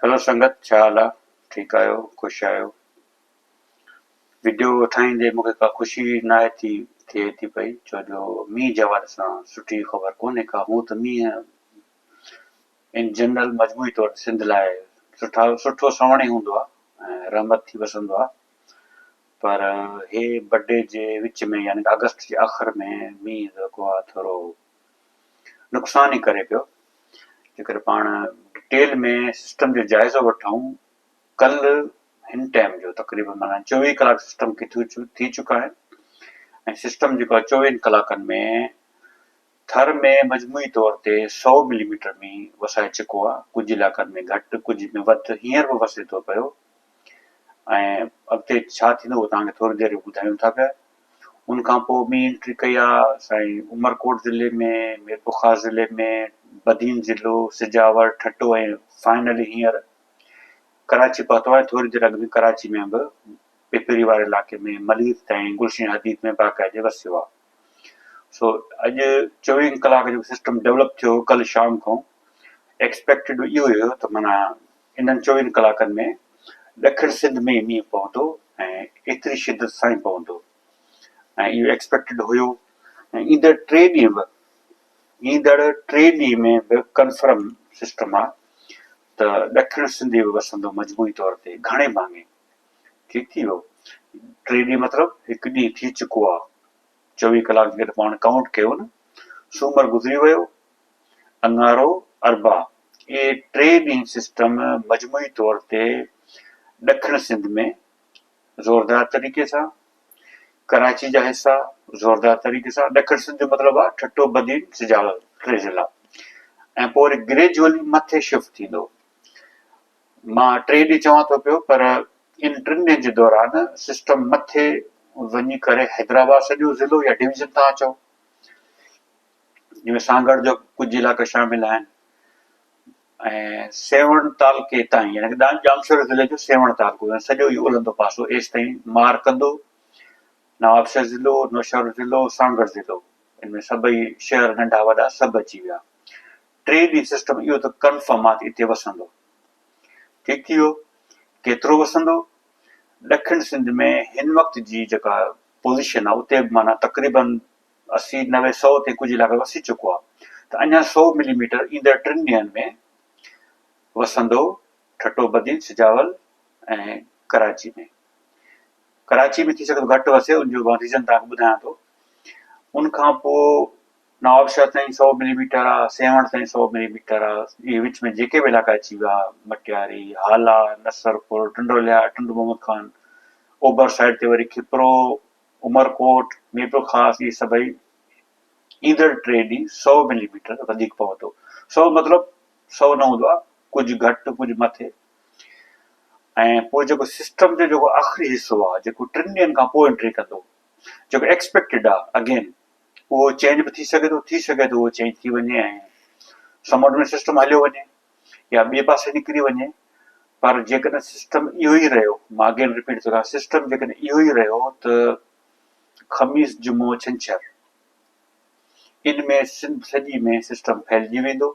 Hello سنگت ڇا حال آ ٺيڪ آهيو خوش آهيو وڊيو ٺاهيندي مون کي ڪا خوشي ناهي ٿي ٿئي ٿي پئي ڇو جو مينهن جي حوالي سان سٺي خبر ڪونهي ڪا هون ته مينهن ان جنرل مجموعي طور سنڌ لاء سٺا سٺو سوڻ ئي هوندو آ رحمت ٿي وسندو آ پر هي بڊي جي وچ ۾ يعني اگست جي آخر ۾ مينهن جيڪو آ ٿورو نقصان ئي ڪري پيو. جيڪڏهن پاڻ ڊٽيل ۾ سسٽم جو جائزو وٺون ڪل هن ٽائيم جو تقريبن معنيٰ چوويهه ڪلاڪ سسٽم کي ٿي چڪا آهن ۽ سسٽم جيڪو آهي چوويهن ڪلاڪن ۾ ٿر ۾ مجموعي طور تي سؤ ملي ميٽر مينهن وسائي چڪو آهي ڪجهه علائقن ۾ گهٽ ڪجهه ۾ وڌ هينئر به وسي ٿو پيو ۽ اڳتي ڇا ٿيندو اهو توهان کي ٿوري دير ۾ ٻڌايون ٿا پيا ان کان پوء ٻي انٽري ڪئي آ سائين عمرڪوٽ ضلعي ۾ ميرپورخاص ضلعي ۾ بدين ضلعو سجاور ٺٽو ۽ فائنلي هينئر ڪراچي پهتو آهيان ٿوري دير اڳ ۾ ڪراچي ۾ به پپري واري علائقي ۾ ملير تائين گلشين حديد ۾ باقاعدي وسيو آ سو اڄ چويهن ڪلاڪ جو سسٽم ڊيولپ ٿيو ڪل شام کان ايڪسپيڪٽيڊ اهو هيو ته معنيٰ انهن چوويهن ڪلاڪن ۾ ڏکڻ سنڌ ۾ مينهن پوندو ۽ ايتري شدت سان ئي پوندو ۽ اهو ايڪسپيڪٽيڊ هيو ۽ ايندڙ ٽي ڏينهن به ايندڙ ٽي ڏينهن ۾ به ڪنفرم سسٽم آهي ته ڏکڻ سنڌ به وسندو مجموعي طور تي گهڻي ڀاڱي ٺيڪ ٿي ويو ٽي ڏينهن مطلب هڪ ڏينهن ٿي چڪو آهي چوويهه ڪلاڪ جيڪڏهن پاڻ ڪائونٽ ڪيو نه سومر گذري ويو اڱارو اربع، اهي ٽي ڏينهن سسٽم مجموعي طور تي ڏکڻ سنڌ ۾ زوردار طريقي سان، ڪراچي جا حصا زوردار طريقي سان، ڏکڻ سنڌ جو مطلب آهي ٺٽو، بدين، سجاول ٽي ضلعا ۽ پوء وري گريجولي مٿي شفٽ ٿيندو. مان ٽي ڏينهن چوان ٿو پيو پر ان ٽن ڏينهن جي دوران سسٽم مٿي وڃي ڪري حيدرآباد سڄو ضلعو يا ڊويزن تان چئو، جن ۾ سانگهڙ جو ڪجهه علائقو شامل آهن ۽ سيوهڻ تعلقي تائين يعني ڄامشوري ضلعي جو سيوهڻ تعلقو يعني سڄو اهو الهندو پاسو ايس تائين مار ڪندو نوابشاهه ضلعو نوشهرو ضلعو سانگهڙ ضلعو ان ۾ سڀئي شهر ننڍا وڏا سڀ اچي ويا ٽي ڏينهن سسٽم اهو ته ڪنفرم آت هتي وسندو ٺيڪ ٿي ويو ڪيترو وسندو ڏکڻ سنڌ ۾ هن وقت جي جيڪا پوزيشن آهي اتي معنيٰ تقريبن اسي نوي سؤ تي ڪجهه علائقو وسي چڪو آهي ته اڃا سؤ ملي ميٽر ايندڙ ٽن ڏينهن ۾ وسندو، ٺٽو بدين، سجاول ۽ ڪراچي ۾ ڪراچي ۾ ٿي سگهي ٿو گهٽ وسي ان جو مان ريزن توهان کي ٻڌايان ٿو ان کان پوء نوابشاهه تائين سؤ ملي ميٽر آهي سيوهڻ تائين سؤ ملي ميٽر آهي اهي وچ ۾ جيڪي به علائقا اچي ويا مٽياري هالا نصرپور ٽنڊوليا ٽنڊو محمد خان اوڀر سائيڊ تي وري کپرو عمرڪوٽ، ميرپورخاص اهي سڀئي ايندڙ ٽي ڏينهن سؤ ملي ميٽر وڌيڪ پوندو، سؤ مطلب سؤ نه هوندو آهي ڪجهه گهٽ ڪجهه مٿي ۽ پوء جيڪو سسٽم جو جيڪو آخري حصو آهي جيڪو ٽن ڏينهن کان پوء انٽري ڪندو جيڪو ايڪسپيڪٽيڊ آهي اگين اهو چينج به ٿي سگهي ٿو ٿي سگهي ٿو اهو چينج ٿي وڃي ۽ سمنڊ ۾ سسٽم هليو وڃي. يا ٻئي پاسي نڪري وڃي پر جيڪڏهن سسٽم اهو ئي رهيو مان اگين رپيٽ ٿو ڪريان سسٽم جيڪڏهن اهو ئي رهيو ته خميس جمعو ڇنڇر ان ۾ سنڌ سڄي ۾ سسٽم ڦهلجي ويندو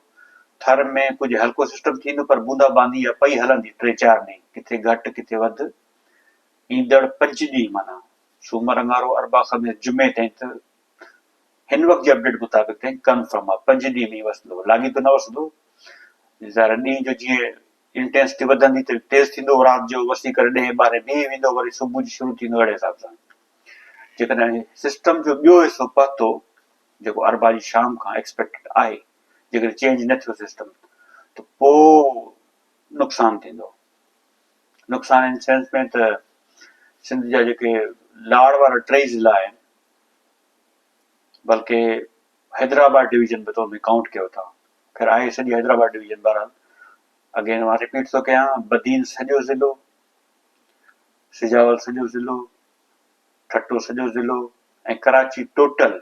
ٿر ۾ ڪجهه هلڪو سسٽم ٿيندو پر بوندا باندي يا پئي هلندي ٽي چار ڏينهن ڪٿي گهٽ ڪٿي وڌ ايندڙ پنج ڏينهن معنيٰ سومر اڱارو اربع خميس جمعي تائين ته هن وقت جي اپڊيٽ مطابق تائين ڪنفرم آهي پنج ڏينهن ۾ وسندو لاڳيتو نه وسندو ظاهر ڏينهن جو جيئن انٽينسٽي وڌندي ته تيز ٿيندو رات جو وسي ڪري ڏهين ٻارهين بيهي ويندو وري صبح جو شروع ٿيندو اهڙي حساب سان جيڪڏهن سسٽم جو ٻيو حصو پهتو جيڪو اربا جي شام کان ايڪسپيڪٽ آهي جيڪڏهن چينج نه ٿيو سسٽم ته پوء نقصان ٿيندو نقصان ان سينس ۾ ته سنڌ جا جيڪي لاڙ وارا ٽي ضلع آهن بلڪه حيدرآباد ڊويزن به تو ۾ ڪائونٽ ڪيو اٿا خير آهي سڄي حيدرآباد ڊويزن بهرحال اگين مان رپيٽ ٿو ڪيان بدين سڄو ضلعو سجاول سڄو ضلعو ٺٽو سڄو ضلعو ۽ ڪراچي ٽوٽل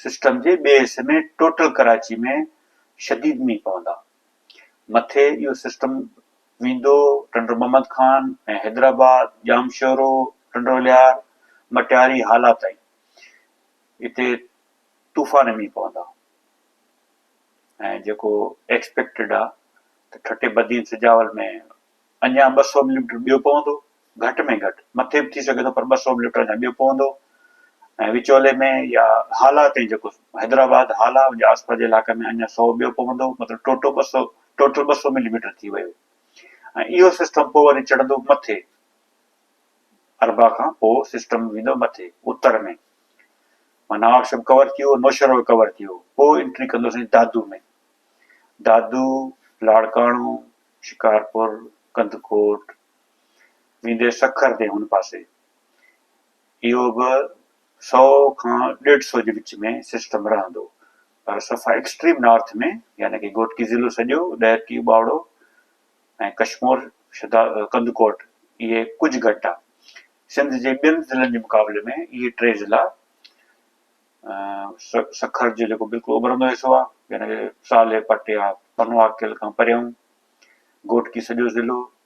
سسٽم جي ٻئي حصے ۾ ٽوٽل ڪراچي ۾ شديد مينهن پوندا مٿي اهو سسٽم ميندو، ٽنڊو محمد خان ۽ حيدرآباد، ڄامشورو، ٽنڊو ليار، مٽياري هالا تائين هتي طوفاني مينهن پوندا ۽ جيڪو ايڪسپيڪٽيڊ آ ته ٺٽي بدين سجاول ۾ اڃا ٻه سؤ ملي ميٽر ٻيو پوندو گهٽ ۾ گهٽ مٿي به ٿي سگهي ٿو پر ٻه سؤ به لٽر جا ٻيو پوندو ۽ وچولي ۾ يا هالا تائين جيڪو حيدرآباد هالا ان جي آسپاس جي علائقي ۾ اڃا سؤ ٻيو پوندو مطلب ٽوٽو ٻه سؤ ٽوٽل ٻه سؤ ملي ميٽر ٿي ويو ۽ اهو سسٽم پوء وري چڙهندو مٿي اربع کان پوء سسٽم ويندو مٿي اتر ۾ معنيٰ آڪشم ڪور ٿي ويو نوشهرو ڪور ٿي ويو پوء انٽري ڪندو سائين دادو ۾ دادو لاڙڪاڻو شڪارپور ڪنڌڪوٽ ويندي سکر تي هن پاسي اهو به سؤ کان ڏيڍ سؤ جي وچ ۾ سسٽم رهندو پر صفا ايڪسٽريم نارٿ ۾ يعني ڪي گوٽڪي ضلعو سڄو ڏهرڪي ٻاوڙو ۽ ڪشمور شدا ڪندڪوٽ اهي ڪجهه گهٽ آ سنڌ جي ٻين ضلعن جي مقابلي ۾ اهي ٽي ضلع سکر جو جيڪو بلڪل اوڀرندو حصو آ يعني صالح پٽيا پنواڪل کان پريون گوٽڪي سڄو ضلعو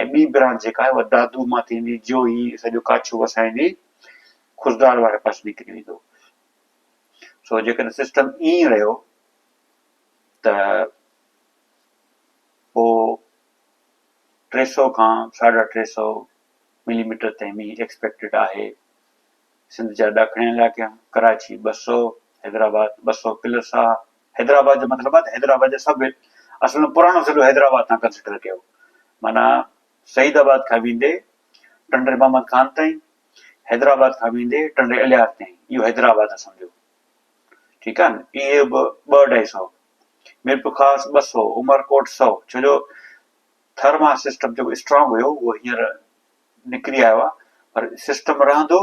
۽ ٻي برانچ جيڪا آهي اها دادو مان ٿيندي جيو هي سڄو ڪاڇو وسائيندي خضدار واري پاسي نڪري ويندو. سو جيڪڏهن سسٽم ائين رهيو ته پوء ٽي سؤ کان ساڍا ٽي سؤ ملي ميٽر تائين مينهن ايڪسپيڪٽيڊ آهي. سنڌ جا ڏاکڻين علائقا ڪراچي ٻه سؤ، حيدرآباد ٻه سؤ پلس آهي. حيدرآباد جو مطلب آهي ته حيدرآباد جا سڀ هل، اصل ۾ پراڻو ضلعو حيدرآباد تان ڪنسڊر ڪيو ويو، معنيٰ سعيد آباد کان ويندي ٽنڊي محمد خان تائين، حيدرآباد کان ويندي ٽنڊي الهيار تائين، اهو حيدرآباد آهي سمجهو. ٺيڪ آهي نه، اهي به ٻه اڍائي سئو، ميرپورخاص ٻه سئو، عمرڪوٽ سئو، ڇو جو ٿر مان سسٽم جيڪو اسٽرانگ هيو اهو هينئر نڪري آيو آهي پر سسٽم رهندو،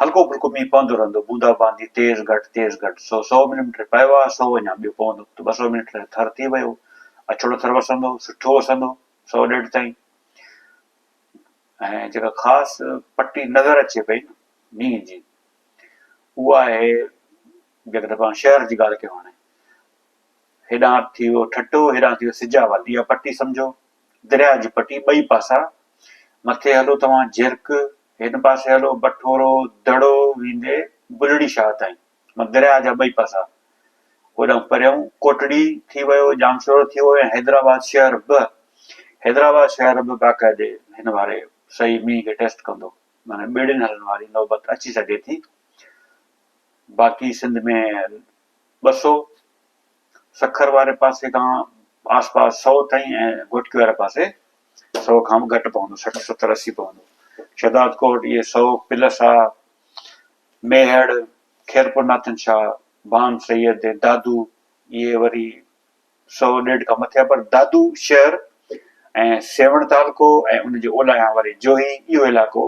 هلڪو ڦلڪو مينهن پوندو رهندو، بوندا باندي تيز گهٽ تيز گهٽ، سو سؤ ملي ميٽر پيو آهي، سو اڃا ٻيو پوندو ته ٻه سؤ ملي ميٽر ٿر ٿي ويو، اڇڙو ٿر وسندو، سٺو وسندو، سؤ ڏيڍ تائين. ۽ جيڪا خاص پٽي نظر اچي پئي نه مينهن جي اها آهي جيڪڏهن پاڻ شهر جي ڳالهه ڪيون هاڻي، هيڏانهن ٿي ويو ٺٽو، هيڏانهن ٿي ويو سجاول، اها پٽي سمجهو، درياء جي پٽي ٻئي پاسا. مٿي هلو توهان جهرڪ، هن پاسي هلو بٺورو، دڙو ويندي بلڙي شاهه تائين، معنيٰ درياء جا ٻئي پاسا. هوڏانهن پريون ڪوٽڙي ٿي ويو، ڄامشورو ٿي ويو ۽ حيدرآباد شهر به. حيدرآباد شهر به باقاعدي هن واري سهي مينهن کي ٽيسٽ ڪندو، معنيٰ ٻيڙين هلڻ واري نوبت اچي سگهي ٿي. باقي سنڌ ۾. ٻه سؤ، سکر واري پاسي کان آس پاس سؤ تائين ۽ گهوٽڪي واري پاسي سؤ کان به گهٽ پوندو، سٺ ستر اسي پوندو. شهداد ڪوٽ اهي سؤ، پلسا، ميهڙ، خيرپور ناٿن شاهه، بان سيد ۽ دادو اهي وري سؤ ڏيڍ کان مٿي آهن پر دادو شهر ۽ سيوهڻ تعلقو ۽ ان جي اولاهيان واري جوهي اهو علائقو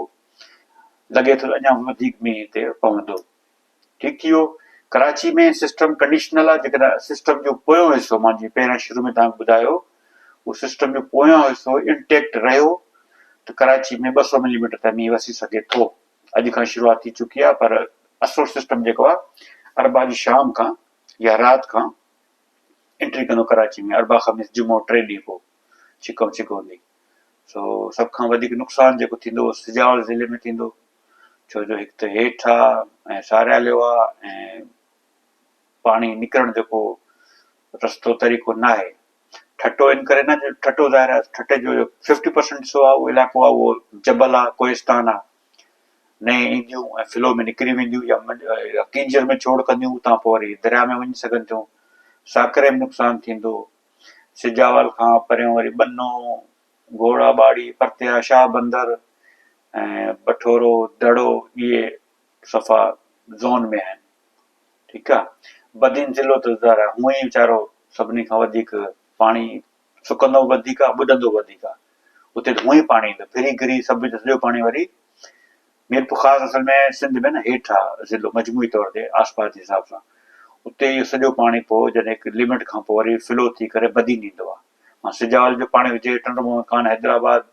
لڳي ٿو ته اڃا وڌيڪ مينهن هتي پوندو. ٺيڪ ٿي ويو. ڪراچي ۾ سسٽم ڪنڊيشنل آ جيڪڏهن سسٽم جو پويون حصو مان جي پهريان شروع ۾ توهان کي ٻڌايو اهو سسٽم جو پويون حصو انٽيڪٽ رهيو ته ڪراچي ۾ ٻه سؤ ملي ميٽر تائين مينهن وسي سگهي ٿو اڄ کان شروعات ٿي چڪي آ پر اصل سسٽم جيڪو آ اربع جي شام کان يا رات کان انٽري ڪندو ڪراچي ۾ اربع خميس جمعو ٽي ڏينهن پوء ڇڪ ۽ ڇڪ هوندي سو سڀ کان وڌيڪ نقصان جيڪو ٿيندو سجاول ضلعي ۾ ٿيندو ڇو جو هڪ ته هيٺ آ ۽ سارياليو آ ۽ پاڻي نڪرڻ جو ڪو رستو طريقو ناهي. ٺٽو ان ڪري نه جو ٺٽو ظاهر آ ٺٽي جو ففٽي پرسنٽ حصو آ اهو علائقو آ اهو جبل آ ڪوهستان آ نئين اينديون ۽ فلو ۾ نڪري وينديون يا يا ڪينجهر ۾ ڇوڙ ڪنديون اتان پوء وري درياء ۾ وڃي سگهن ٿيون ساڪري ۾ نقصان ٿيندو سجاول کان پريون وري ٻنو گهوڙا ٻاڙي، پرتيا، شاهه بندر ۽ بٺورو دڙو اهي صفا زون ۾ آهن ٺيڪ آ بدين ضلعو ته ظاهر آ هونئن ئي ويچارو سڀني کان وڌيڪ پاڻي سڪندو به وڌيڪ آ ٻڏندو به وڌيڪ آ اتي ته هونئن ئي پاڻي ايندو پھرين گھري سڀ جو سڄو پاڻي وري ميرپور خاص اصل ۾ سنڌ ۾ نه هيٺ آ ضلعو مجموعي طور تي آسپاس جي حساب سان اتي اهو سڄو پاڻي پوء جڏهن هڪ لمٽ کان پوء وري فلو ٿي ڪري بدين ايندو آ مان سجاول جو پاڻي هجي ٽنڊو مهو ڪان حيدرآباد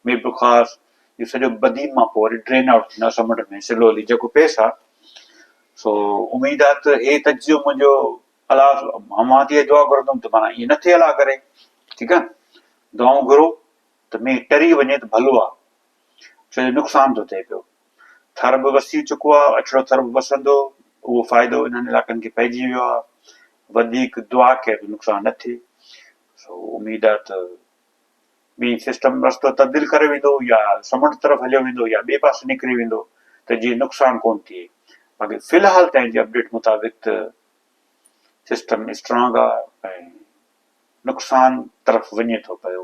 ميرپور خاص اهو سڄو بدين مان پوء وري ڊرين آئوٽ ٿيندو آ سمنڊ ۾ سلولي جيڪو پيس آ سو اميد آ ته هي تجزيو منهنجو الاس امان تي دعا گهرندم ته معنيٰ ائين نه ٿئي الا ڪري ٺيڪ آ دعائون گهرو ته مينهن ٽري وڃي ته ڀلو آ ڇو جو نقصان ٿو ٿئي پيو. ٿر به وسي چڪو آهي، اڇڙو ٿر به وسندو، اهو فائدو انهن علائقن کي پئجي ويو آهي. وڌيڪ دعا ڪير جو نقصان نه ٿئي. سو اميد آهي ته ٻئي سسٽم رستو تبديل ڪري ويندو يا سمنڊ طرف هليو ويندو يا ٻئي پاسي نڪري ويندو ته جيئن نقصان ڪونه ٿئي. باقي في الحال تائين جي اپڊيٽ مطابق ته سسٽم اسٽرانگ آهي ۽ نقصان طرف وڃي ٿو پيو.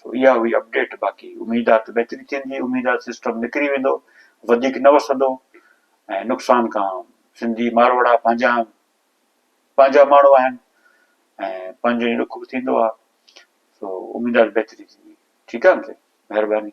سو اها هئي اپڊيٽ باقي اميد آهي ته بهتري ٿيندي اميد آهي سسٽم نکري ويندو وڌيڪ نه وسندو ۽ نقصان کان سنڌي ماروئڙا پنهنجا پنهنجا ماڻهو آهن ۽ پنهنجو ئي ڏک به ٿيندو آهي سو اميد آهي بهتري ٿيندي ٺيڪ آهي مهرباني